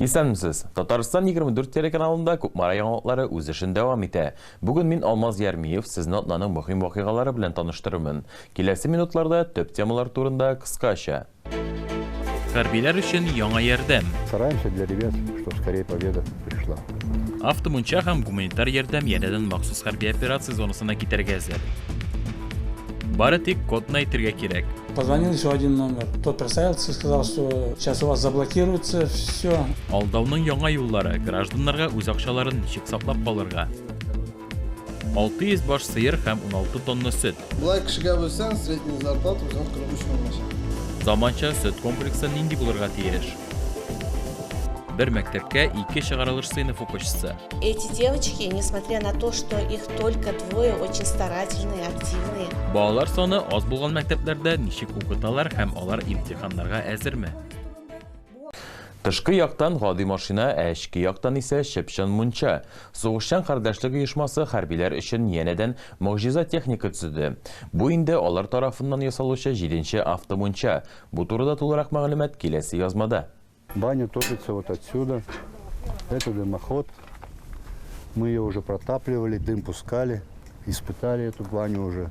Исәнмесез! Татарстан 24 телеканалында Кукмара яңалыклары үз эшен дәвам итә. Бүген мин Алмаз Ярмиев, сезне атнаның мөһим вакыйгалары белән таныштырырмын. Киләсе минутларда төп темалар турында кыскача. Хәрбиләр өчен яңа ярдәм. Стараемся для ребят, что скорее победа пришла. Автомунча һәм гуманитар ярдәм янәдән махсус хәрби операция зонасына китәргә әзер. Бары тик кодны әйтергә кирәк. Позвонил еще один номер. Тот представился, сказал, что сейчас у вас заблокируется все. Алдауның яңа юллары, гражданнарга үз акчаларын ничек саклап калырга? 600 баш сыер һәм 16 тонна сөт. Болай кешегә бөлсәң, средний зарплата үзең 43 мең булачак. Заманча сөт комплексы нинди булырга тиеш? Бер мәктәпкә ике чыгарылыш сыйныф укучысы. Эти девочки, несмотря на то, что их только двое, очень старательные, активные. Балалар саны аз булган мәктәпләрдә ничек укыталар һәм алар имтиханнарга әзерме? Тышкы яктан, гади машина, ә эчке яктан исә, чып-чын мунча. Сугышчан кардәшлек оешмасы хәрбиләр өчен янәдән могҗиза техника төзеде. Бу инде алар тарафыннан ясалучы җиденче автомунча. Бу турыда тулырак мәгълүмат киләсе язмада. Баня топится вот отсюда. Это дымоход. Мы ее уже протапливали, дым пускали, испытали эту баню уже.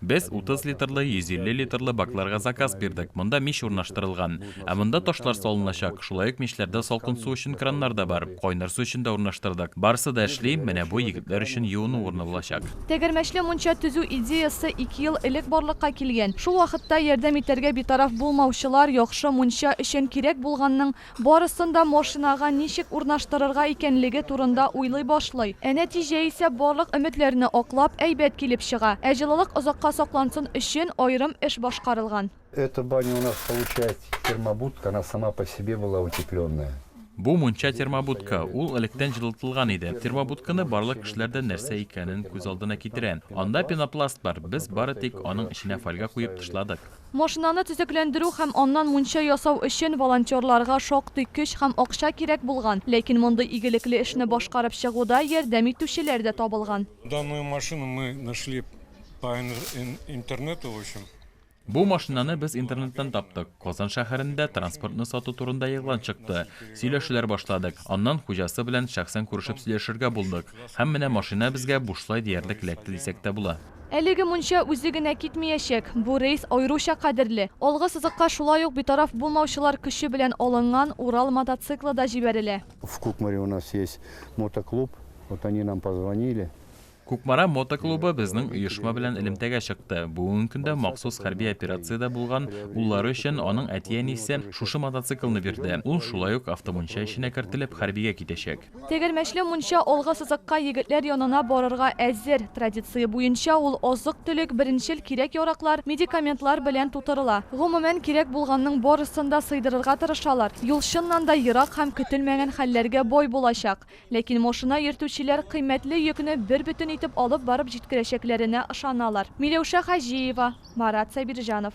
Без 30 литрлы, 150 литрлы бакларга заказ бирдек, монда мич урнаштырылган. Ә монда ташлар салыначак, шулай ук мичләрдә салкын су өчен краннар да бар, кайнар су өчен дә урнаштырдык. Барысы да эшли, менә бу егетләр өчен юыну урыны булачак. Тәгәрмәчле мунча төзү идеясе ике ел элек барлыкка килгән. Шул вакытта ярдәм итәргә битараф булмаучылар яхшы мунча өчен кирәк булганның Барысын да машинага ничек урнаштырырга икәнлеге турында уйлый башлый. Ә нәтиҗә исә барлык өметләрне аклап, әйбәт килеп чыга. Ә җылылык озакка саклансын өчен аерым эш башкарылган. Эта баня у нас получается термобудка, она сама по себе была утепленная. Бу мунча термобудка, ул электән җылытылган иде. Термобудканы барлык кешеләр дә нәрсә икәнен күз алдына китерә. Анда пенопласт бар, без бары тик аның эченә фольга куеп тышладык. Машинаны төзекләндерү һәм аннан мунча ясау өчен волонтерларга шактый көч һәм акча кирәк булган, ләкин мондый игелекле эшне башкарып чыгуда ярдәм итүчеләр дә табылган. Данную машину мы нашли по интернету, в общем. Бу машинаны без интернеттан таптык. Казан шәһәрендә транспортны сату турында игълан чыкты. Сөйләшүләр башладык. Аннан хуҗасы белән шәхсән күрешеп сөйләшергә булдык. Һәм менә машина безгә бушлай диярлек эләкте дисәк тә була. Әлеге мунча үзе генә китмиячәк. Бу рейс аеруча кадерле. Алгы сызыкка шулай ук битараф булмаучылар көче белән алынган Урал мотоциклы да җибәрелә. В Кукмаре у нас есть мотоклуб, вот они нам позвонили. Кукмара мотоклубы безнең оешма белән элемтәгә чыкты. Бүгенге көндә махсус хәрби операциядә булган уллары өчен аның әти-әнисе шушы мотоциклны бирде. Ул шулай ук автомунча эченә кертелеп, хәрбигә китәчәк. Тегермәчле мунча алгы сызыкка егетләр янына барырга әзер. Традиция буенча, ул азык-төлек, беренчел кирәк-яраклар, медикаментлар белән тутырыла. Гомумән, кирәк булганның барысын да сыйдырырга тырышалар. Юл чыннан да ерак һәм көтелмәгән хәлләргә бай булачак. Ләкин машина йөртүчеләр кыйммәтле йөкне бербөтен итеп алып барып җиткерәчәкләренә ышаналар. Миләүшә Хаҗиева, Марат Сабирҗанов.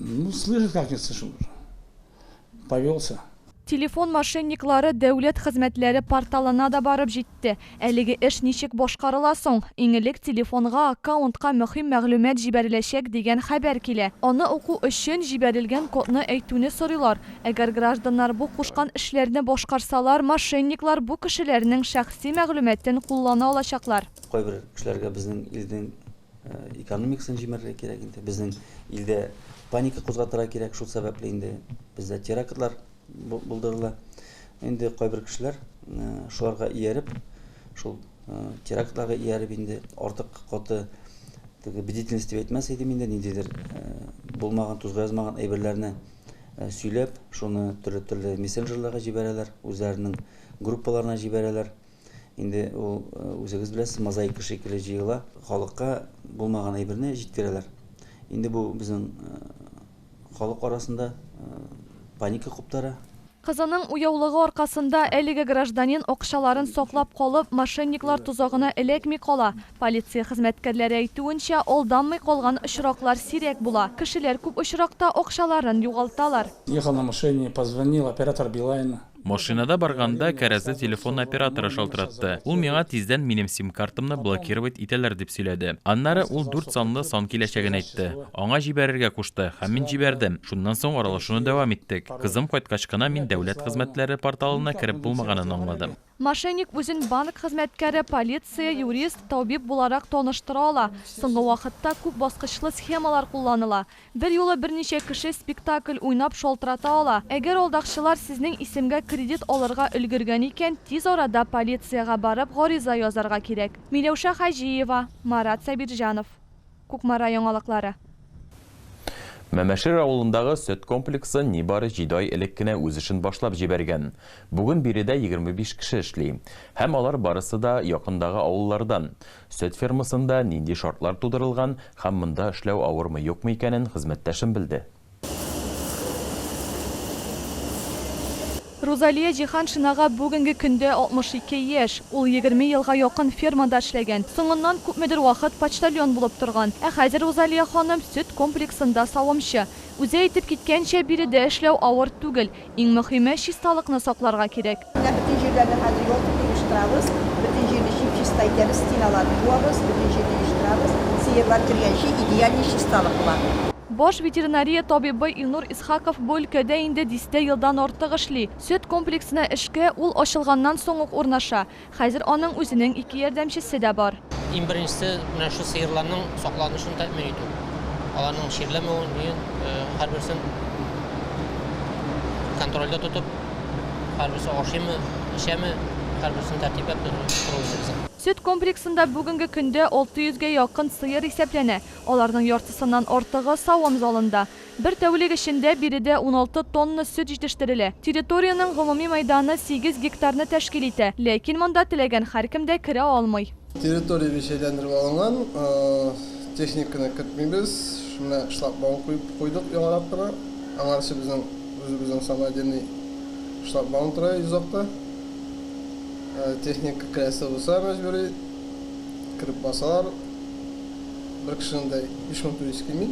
Ну, слышит, как не слышит уже. Повелся. Телефон мошенниклары дәүләт хезмәтләре порталына да барып җитте. Әлеге эш ничек башкарыла соң? Иң элек телефонга, аккаунтка мөһим мәгълүмат җибәреләчәк дигән хәбәр килә. Аны уку өчен, җибәрелгән кодны әйтүне сорыйлар. Әгәр гражданнар бу кушкан эшләрне башкарсалар, мошенниклар бу кешеләрнең шәхси мәгълүматын куллана алачаклар. Кайбер кешеләргә безнең илнең экономикасын җимерергә кирәк инде безнең илдә паника кузгатырга кирәк шул сәбәпле инде бездә терактлар булдырыла инде кайбер кешеләр э, шуларга ияреп шул э, терактларга ияреп инде артык каты теге бдительность дип әйтмәс идем инде ниндидер э, булмаган тузга язмаган әйберләрне сөйләп шуны төрле төрле мессенджерларга җибәрәләр үзләренең группаларына җибәрәләр Инде ул үзегез беләсез, мозаика шикелле җыела. Халыкка булмаган әйберне җиткерәләр. Инде бу безнең халык арасында паника куптара. Кызының уяулыгы аркасында әлеге гражданин акчаларын саклап калып, мошенниклар тозагына эләкми кала. Полиция хезмәткәрләре әйтүенчә, алданмый калган очраклар сирәк була. Кешеләр күп очракта акчаларын югалталар. Ехал на машине, позвонил, оператор Билайна. Машинада барганда кәрәзле телефон операторы шалтыратты. Ул миңа тиздән минем сим-картамны блокировать итәләр дип сөйләде. Аннары ул дүрт санлы сан киләчәген әйтте. Аңа җибәрергә кушты һәм мин җибәрдем. Шуннан соң аралашуны дәвам иттек. Кызым кайткач кына мин дәүләт хезмәтләре порталына кереп булмаганын аңладым. Мошенник үзен банк хезмәткәре, полиция, юрист, табиб буларак таныштыра ала. Соңгы вакытта күп баскычлы схемалар кулланыла. Берьюлы берничә кеше спектакль уйнап шалтырата ала. Әгәр алдакчылар сезнең исемгә кредит алырга өлгергән икән, тиз арада полициягә барып гариза язарга кирәк. Миләүшә Хаҗиева, Марат Сабирҗанов. Кукмара яңалыклары. Мәмәшер авылындагы сөт комплексы нибары җиде ай элек кенә үз эшен башлап җибәргән. Бүген биредә егерме биш кеше эшли. Һәм алар барысы да якындагы авыллардан. Сөт фермасында нинди шартлар тудырылган һәм монда эшләү авырмы-юкмы икәнен хезмәттәшем белде. Рузалия Җиһаншинага бүгенге көндә 62 яшь. Ул егерме елга якын фермада эшләгән. Соңыннан күпмедер вакыт почтальон булып торган. Ә хәзер Рузалия ханым сөт комплексында савымчы. Үзе әйтеп киткәнчә, биредә эшләү авыр түгел. Иң мөхиме, чисталыкны сакларга кирәк. Менә бөтен җирләрне хәзер йолкып оештырабыз, бөтен җирне чип-чиста итәбез, стеналарны буабыз, бөтен җирне оештырабыз, сыерлар кергәнче идеальный чисталык бар. Баш ветеринария табибы Илнур Исхаков бу өлкәдә инде дистә елдан артык эшли. Сөт комплексына эшкә ул ачылганнан соң ук урнаша. Хәзер аның үзенең ике ярдәмчесе дә бар. Иң беренчесе, менә шул сыерларның сакланышын тәэмин итү. Аларның чирләмәвен, өен, һәрберсен контрольдә тотып, һәрберсе ашыймы, эчәме, һәрберсен тәртипләп тору иде безнең. Сөт комплексында бүгенге көндә 600 гә якын сыер исәпләнә. Аларның яртысыннан артыгы савым залында. Бер тәүлек эчендә биредә уналты тонна сөт җитештерелә. Территориянең гомуми мәйданы сигез гектарны тәшкил итә, ләкин монда теләгән һәркем дә керә алмый. Территорияне җәйләндереп алынган, техниканы кертмибез, менә шлагбаум куеп куйдык яңарак кына. Аңарчы безнең үзебезнең самодельный шлагбаум тора йозакта. Техника керәсе булса, мәҗбүри кереп басалар. Бер кешенең дә һичкоң түлисе килми.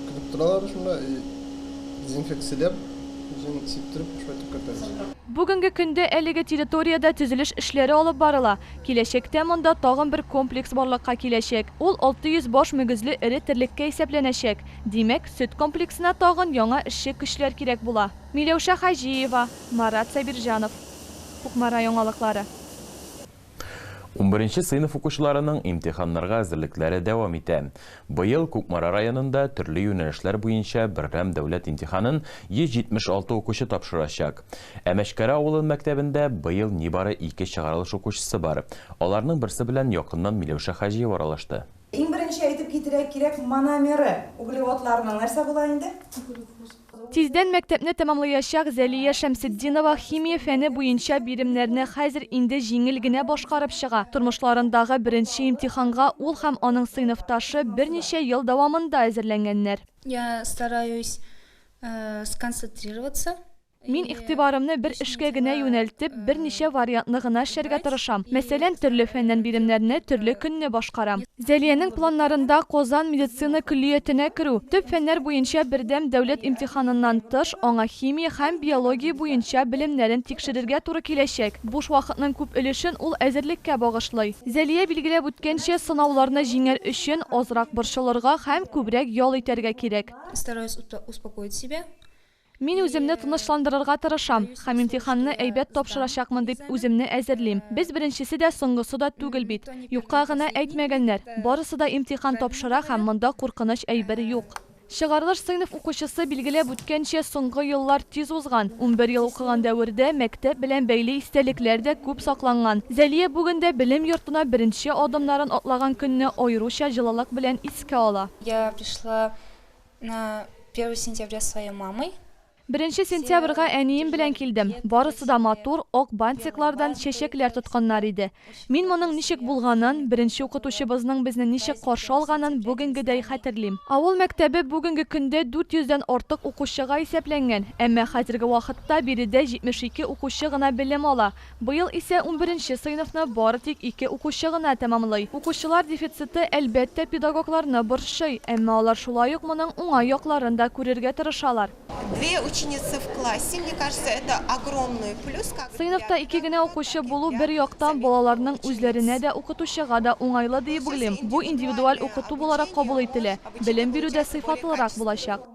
Көтеп торалар шунда, и дезинфекцияләп, үзен сиптереп, шулай итеп кертәбез. Бүгенге көндә әлеге территориядә төзелеш эшләре алып барыла. Киләчәктә монда тагын бер комплекс барлыкка киләчәк. Ул 600 баш мөгезле эре терлеккә исәпләнәчәк. Димәк, сөт комплексына тагын яңа эшче көчләр кирәк була. Миләүшә Хаҗиева, Марат Сабирҗанов. Кукмара яңалыклары. Унберенче сыйныф укучыларының имтиханнарга әзерлекләре дәвам итә. Быел Кукмара районында төрле юнәлешләр буенча беррәм дәүләт имтиханын 176 укучы тапшырачак. Ә Мәчкәрә авылын мәктәбендә быел нибары ике чыгарылыш укучысы бар. Аларның берсе белән якыннан Миләүшә Хаҗиева аралашты. Иң беренче әйтеп китергә кирәк, мономеры углеводларның нәрсә була инде? Кукурузлар. Тиздән мәктәпне тәмамлаячак Зәлия Шәмсетдинова химия фәне буенча биремнәрне хәзер инде җиңел генә башкарып чыга. Тормышларындагы беренче имтиханга ул һәм аның сыйныфташы берничә ел дәвамында әзерләнгәннәр. Я стараюсь сконцентрироваться. Мин игътибарымны бер эшкә генә юнәлтеп, берничә вариантны гына эшләргә тырышам. Мәсәлән, төрле фәннән биремнәрне төрле көнне башкарам. Зәлиянең планнарында Казан медицина көллиятенә керү, төп фәннәр буенча бердәм дәүләт имтиханыннан тыш, аңа химия һәм биология буенча белемнәрен тикшерергә туры киләчәк. Буш вакытның күп өлешен ул әзерлеккә багышлый. Зәлия билгеләп үткәнчә, сынауларны җиңәр өчен, азрак борчылырга һәм күбрәк ял итәргә кирәк. Стараюсь успокоить себя. Мин үземне тынычландырырга тырышам һәм имтиханны әйбәт тапшырачакмын дип үземне әзерлим. Без беренчесе дә, соңгысы да түгел бит. Юкка гына әйтмәгәннәр. Барысы да имтихан тапшыра һәм монда куркыныч әйбер юк. Чыгарылыш сыйныф укучысы билгеләп үткәнчә, соңгы еллар тиз узган. Унбер ел укыган дәвердә мәктәп белән бәйле истәлекләр дә күп сакланган. Зәлия бүген дә белем йортына беренче адымнарын атлаган көнне аеруча җылылык белән искә ала. Я пришла На первое сентября своей мамой. Беренче сентябрьгә әнием белән килдем. Барысы да матур, ак бантиклардан чәчәкләр тотканнар иде. Мин моның ничек булганын, беренче укытучыбызның безне ничек каршы алганын бүгенгедәй хәтерлим. Авыл мәктәбе бүгенге көндә 400 дән артык укучыга исәпләнгән, әмма хәзерге вакытта биредә 72 укучы гына белем ала. Быел исә унберенче сыйныфны бары тик ике укучы гына тәмамлый. Укучылар дефициты, әлбәттә, педагогларны борчый, әмма алар шулай ук моның уңай якларын да күрергә тырышалар. Две ученицы в классе, мне кажется, это огромный плюс, как для педагога, так и для Сыйныфта ике генә укучы булу, бер яктан, балаларның үзләренә дә, укытучыга да уңайлы, диеп уйлыйм. Бу индивидуаль укыту буларак кабул ителә, белем бирү дә сыйфатлырак булачак.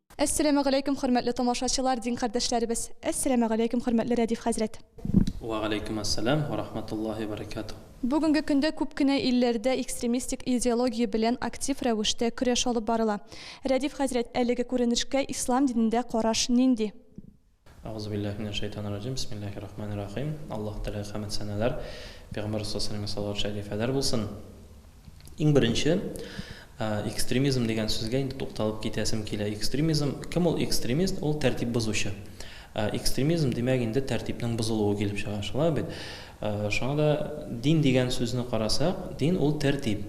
Әссәләмәгаләйкүм хөрмәтле тамашачылар, дин кардәшләребез! Әссәләмәгаләйкүм хөрмәтле Рәдиф хәзрәт! Вәгаләйкүмәссәлам вә рахматуллаһи вә баракатуһ! Бүгенге көндә күп кенә илләрдә экстремистик идеология белән актив рәвештә көрәш алып барыла. Рәдиф хәзрәт, әлеге күренешкә ислам динендә караш нинди? Әгъузубиллаһи минәш шәйтанир раҗим, бисмиллаһир рахманир рахим. Аллаһ Тәгаләгә хәмд сәнәләр, Пәйгамбәр Рәсул Саллаллаһу салават шәрифәләр булсын. Иң беренче, экстремизм дигән сүзгә инде тукталып китәсем килә. Экстремизм, кем ул экстремист? Ул тәртип бозучы. Экстремизм димәк инде тәртипнең бозылуы килеп чыга, шулай бит? Шуңа да дин дигән сүзне карасак, дин ул тәртип.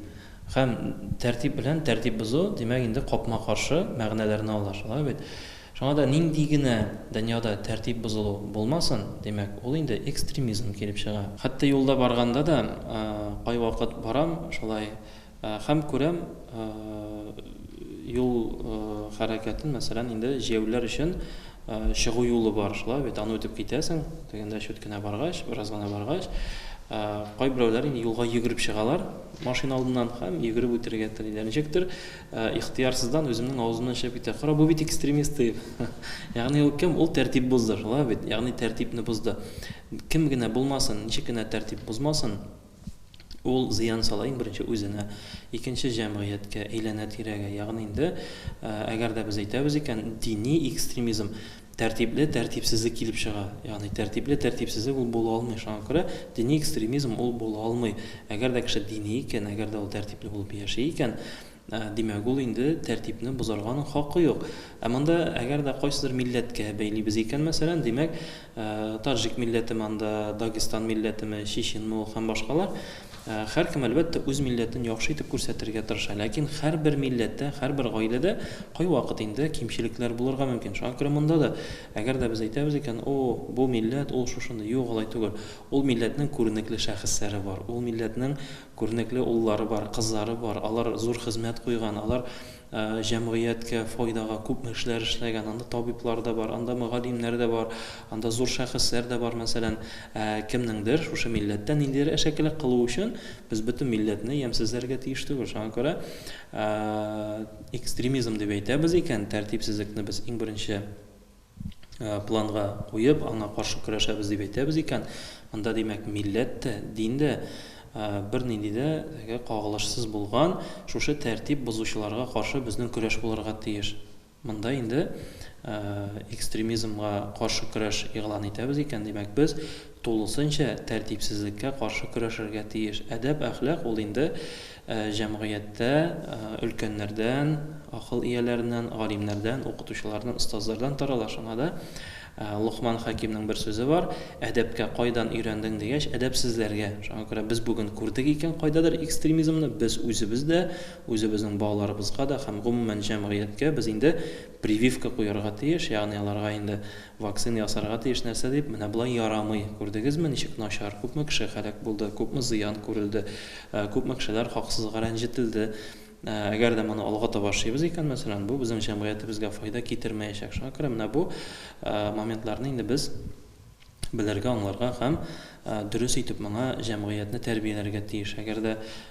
Һәм тәртип белән тәртип бозу, димәк инде капма-каршы мәгънәләрне ала, шулай бит? Шуңа да нинди генә дөньяда тәртип бозылу булмасын, димәк, ул инде экстремизм килеп чыга. Хәтта юлда барганда да, кайвакыт барам шулай һәм күрәм, юл хәрәкәтен, мәсәлән, инде җәяүлеләр өчен чыгу юлы бар, шулай бит, аны үтеп китәсең, тегендә чүт кенә баргач, бераз гына баргач, кайберәүләр инде юлга йөгереп чыгалар машина алдыннан һәм йөгереп үтәргә телиләр. Ничектер, Ихтыярсыздан үземнең авызымнан чыгып китә, Кара, бу бит экстремист, дип. Ягъни ул кем? Ул тәртип бозды, шулай бит? Ягъни тәртипне бозды. Кем генә булмасын, ничек кенә тәртип бозмасын, ул зыян сала, иң беренче, үзенә, икенче, җәмгыятькә, әйләнә-тирәгә. Ягъни инде, әгәр дә без әйтәбез икән, дини экстремизм, Тәртипле тәртипсезлек килеп чыга. Ягъни тәртипле тәртипсезлек ул була алмый. Шуңа күрә дини экстремизм ул була алмый. Әгәр дә кеше дини икән, әгәр дә ул тәртипле булып яши икән, димәк, ул инде тәртипне бозарга аның хакы юк. Ә монда әгәр дә кайсыдыр милләткә бәйлибез икән, мәсәлән, димәк, таҗик милләтеме анда, дагестан милләтеме, чеченме ул һәм башкалар, Һәркем, әлбәттә, үз милләтен яхшы итеп күрсәтергә тырыша, ләкин һәрбер милләттә, һәрбер гаиләдә кайвакыт инде кимчелекләр булырга мөмкин. Шуңа күрә монда да, әгәр дә без әйтәбез икән, О, бу милләт, ул шушындый. Юк, алай түгел. Ул милләтнең күренекле шәхесләре бар, ул милләтнең күренекле уллары бар, кызлары бар, алар зур хезмәт куйган, алар Җәмгыятькә файдага күпме эшләр эшләгән. Анда табиблар да бар, анда мөгаллимнәр дә бар, анда зур шәхесләр дә бар, мәсәлән. Ә кемнеңдер шушы милләттә ниндидер әшәкелек кылу өчен без бөтен милләтне ямьсезләргә тиеш түгел. Шуңа күрә экстремизм дип әйтәбез икән, тәртипсезлекне без иң беренче планга куеп, аңа каршы көрәшәбез дип әйтәбез икән, анда, димәк, милләт тә, дин дә бернинди дә теге кагылышсыз булган, шушы тәртип бозучыларга каршы безнең көрәш булырга тиеш. Монда инде экстремизмга каршы көрәш игълан итәбез икән, димәк, без тулысынча тәртипсезлеккә каршы көрәшергә тиеш. Әдәп-әхлак ул инде Җәмгыятьтә өлкәннәрдән, акыл ияләреннән, галимнәрдән, укытучылардан, остазлардан тарала. Шуңа да Локман хәкимнең бер сүзе бар, Әдәпкә кайдан өйрәндең дигәч, әдәпсезләргә. Шуңа күрә без бүген күрдек икән кайдадыр экстремизмны, без үзебез дә, үзебезнең балаларыбызга да һәм гомумән җәмгыятькә без инде прививка куярга тиеш, ягъни аларга инде Вакцина ясарга тиеш нәрсә дип, менә болай ярамый. Күрдегезме, ничек начар, күпме кеше һәлак булды, күпме зыян күрелде, күпме кешеләр хаксызга рәнҗетелде. Әгәр дә моны алга таба шыйбыз икән, мәсәлән, бу безнең җәмгыятебезгә файда китермәячәк. Шуңа күрә менә бу моментларны инде без белергә, аңларга һәм дөрес итеп моңа җәмгыятьне тәрбияләргә тиеш. Әгәр дә